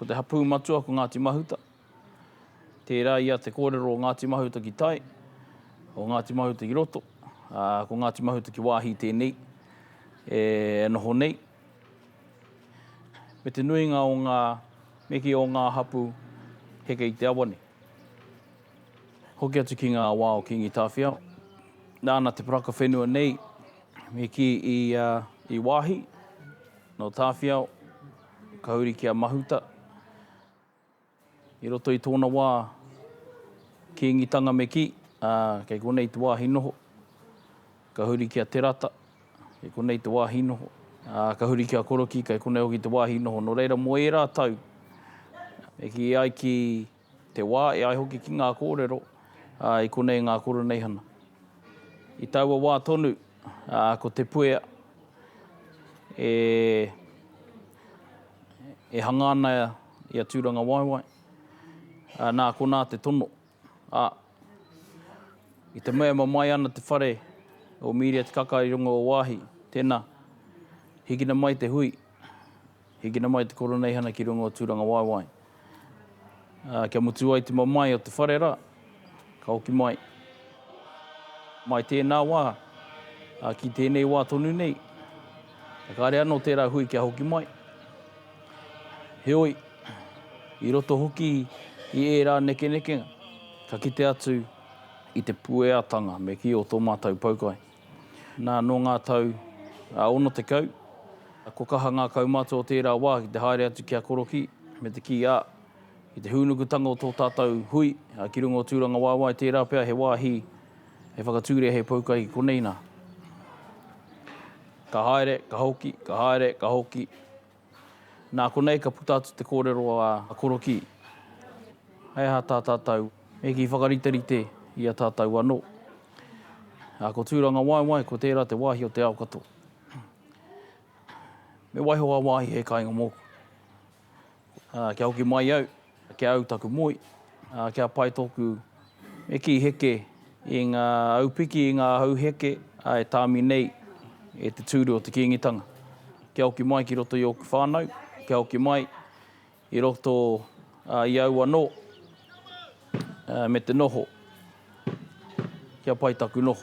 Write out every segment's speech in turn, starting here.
Ko te hapū matua ko Ngāti Mahuta. Tērā ia te kōrero o Ngāti Mahuta ki tai, o Ngāti Mahuta ki roto, ā, ko Ngāti Mahuta ki wāhi tēnei e noho nei. Me te nuinga o ngā meke o ngā hapū heke i te awa nei. Hoki atu ki ngā wā o Kīngi Tāwhiao, nāna te poraka whenua nei i kī i wāhi, nō Tāwhiao, Ka huri ki a Mahuta. I roto i tōna wā Kīngitanga me kī, ā, kei konei te wāhi noho. Ka huri ki a Te Rata, kei konei te wāhi noho. Ā, ka huri ki a Korokī, kei konei hoki te wāhi noho. Nō reira, mō ērā tau, e kī ai ki. Te wā e ai hoki ki ngā kōrero, ā, i konei ngā koroneihana. I taua wā tonu, ā, ko Te Puea e, e hanga ana i a Tūrangawaewae, ā, nā konā te tono, ā, i te mea e mamae ana te whare o Mīria Te Kaka i runga o Waahi, tēnā, hikina mai te hui. Hikina mai te Koroneihana ki runga o Tūrangawaewae. Ā, kia mutu ai te mamae o te whare rā, ka hoki mai. Mai tēnā wā, ā, ki tēnei wā tonu nei, e kare anō tērā hui kia hoki mai. Heoi, i roto hoki i ērā nekenekenga, ka kite atu i te pueatanga me kī o tō mātou poukai. Nā, nō ngā tau ā ono tekau, ko kaha ngā kaumātua o tērā wā ki te haere atu ki a Korokī, me te kī, ā, ki te hūnukutanga o tō tātou hui ki runga o Tūrangawaewae tērā pea he wāhi hei whakatūria hei poukai ki konei nā. Ka haere, ka hoki, ka haere, ka hoki. Nā konei ka puta atu te kōrero a Korokī, Hei aha tā tātou e kī whakariterite i a tātou anō? Ā, ko Tūrangawaewae, ko tērā te wāhi o te ao katoa. Me waiho a wāhi hei kāinga mōku. Ā, kia hoki mai au, Ki au taku moe, kia pai toku me kī heke i ngā aupiki, i ngā hau heke e tāmi nei e te tūru o te Kīngitanga. Kia hoki mai ki roto i ōku whānau, kia hoki mai i roto i au anō me te noho, kia pai taku noho.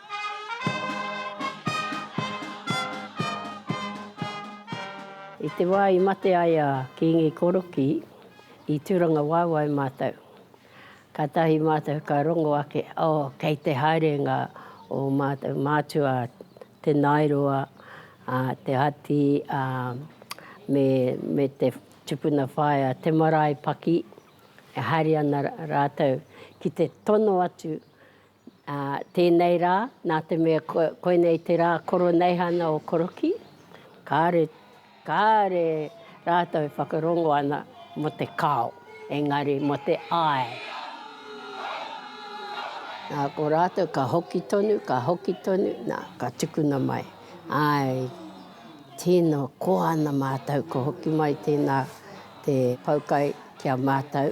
I te wā i mate ai a Kīngi Korokī, i Tūrangawaewae mātou. Kātahi mātou ka rongo ake, oh, kei te haere ngā ō mātou mātua, Te Naeroa, Te Hati, ā, me, me te tupuna whaea, Te Maraepaki, e haere ana rātou ki te tono atu Ā, tēnei rā, nā te mea koinei te rā koroneihana o Korokī, kāre, kāre rātou e whakarongo ana mō te kao, engari mō te ae. Nā, ko rātou ka hoki tonu, ka hoki tonu, nā, ka tukuna mai. Āe, tino koa ana mātou, ka hoki mai tēnā te poukai ki a mātou.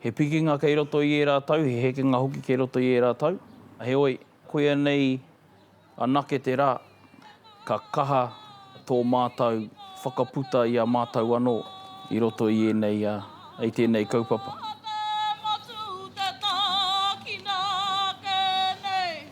He pikinga kei roto i ērā tau, he hekenga hoki kei roto i ērā tau. Heoi, koia nei anake te rā ka kaha tō mātou whakaputa i a mātou anō i roto i ēnei, i tēnei kaupapa.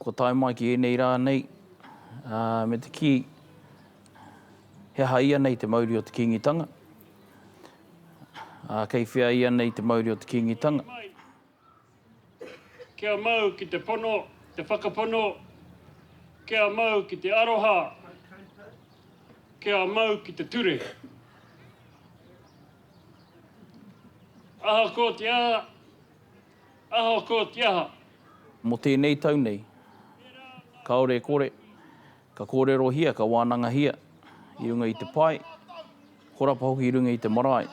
kua tae mai ki ēnei rā nei, me te kī, he aha ia nei te mauri o te Kīngitanga? Kei whea ia nei te mauri o te Kīngitanga? Kia mau ki te pono, te whakapono, kia mau ki te aroha, kia mau ki te ture. Ahakoa te aha, Ahakotia ha. Mo tenei tau nei. Kaore e kore, ka korerohia, ka wanangahia i runga i te pae, horapa hoki i runga i te marae,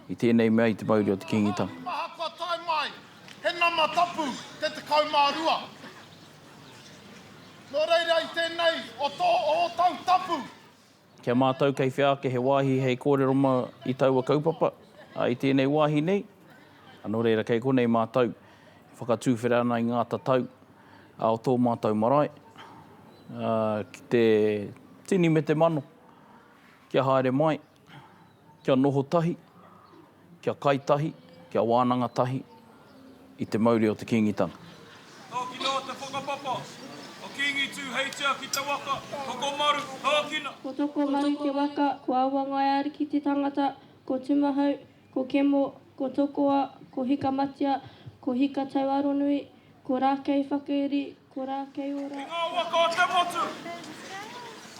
i tenei mea i te mauri o te Kingitanga. He maha kua tae mai, he nama tapu te tekau ma rua. No reira i tenei o to o tau tapu. Ki a mātou kei whea ake he wāhi hei kōrero mā i taua kaupapa, ā, i tēnei wāhi nei, ā, nō reira kei konei mātou e whakatūwhera ana i ngā tatau, ā, o tō mātou marae, ā, ki te tini me te mano kia haere mai. Kia noho tahi, kia kai tahi, kia wānanga tahi i te mauri o te Kīngitanga. Tākina o te whakapapa, a Kīngi Tū hei tia ki te waka, Tokomaru, tākina! Ko Tokomaru te waka, ko Awangaiariki te tangata, ko Tumahau, ko Kemo, ko Tokoa, ko Hikamatia, ko Hikatauaronui, ko Rākeiwhakairi, Ko ra kei ora. I nga waka o te motu.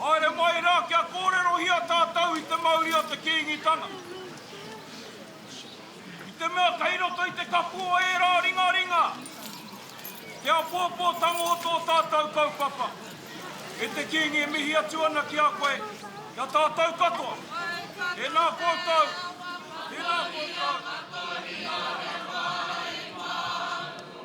Haere mai ra kia korerohia tatou i te mauri o te Kiingitanga. I te mea kei roto i te kapu o era ringaringa te apoopotanga o to tatou kaupapa. E te Kiingi e mihi atu ana ki a koe, ki a tatou katoa. Tena koutou, tena koutou.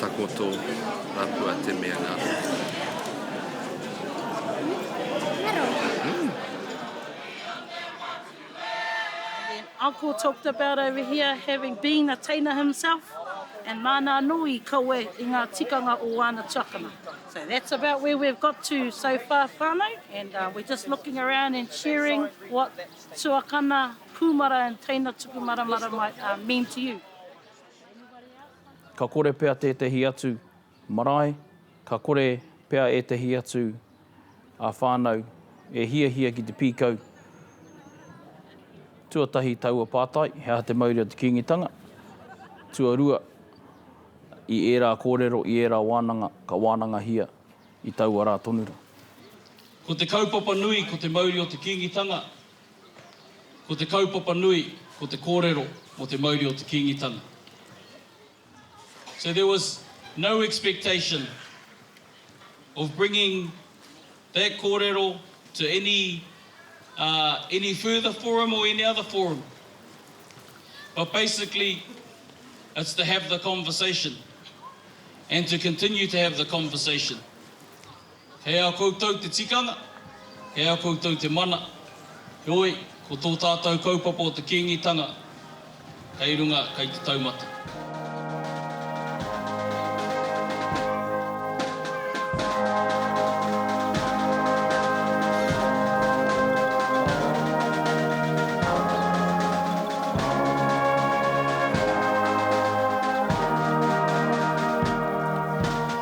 Takoto rapua te mea nga Uncle talked about over here having being a teina himself and māna anō i kawe i ngā tikanga o āna tuakana. So that's about where we've got to so far whānau and uh, we're just looking around and sharing what tuakana kūmara and teina tuku maramara might uh, mean to you. Ka kore pea tētehi atu marae, ka kore pea ētehi atu whānau e hiahia ki te pīkau tuatahi taua pātai, he aha te mauri o te Kīngitanga? Tuarua, i ērā kōrero, i ērā wānanga, ka wānangahia i taua rā tonu rā. Ko te kaupapa nui ko te mauri o te Kīngitanga, Ko te kaupapa nui ko te kōrero mō te mauri o te Kīngitanga. So there was no expectation of bringing that kōrero to any any further forum or any other forum. But basically it's to have the conversation and to continue to have the conversation. He a koutou te tikanga, he a koutou te mana, heoi, ko tō tātou kaupapa o te Kīngitanga kei runga, kei te taumata.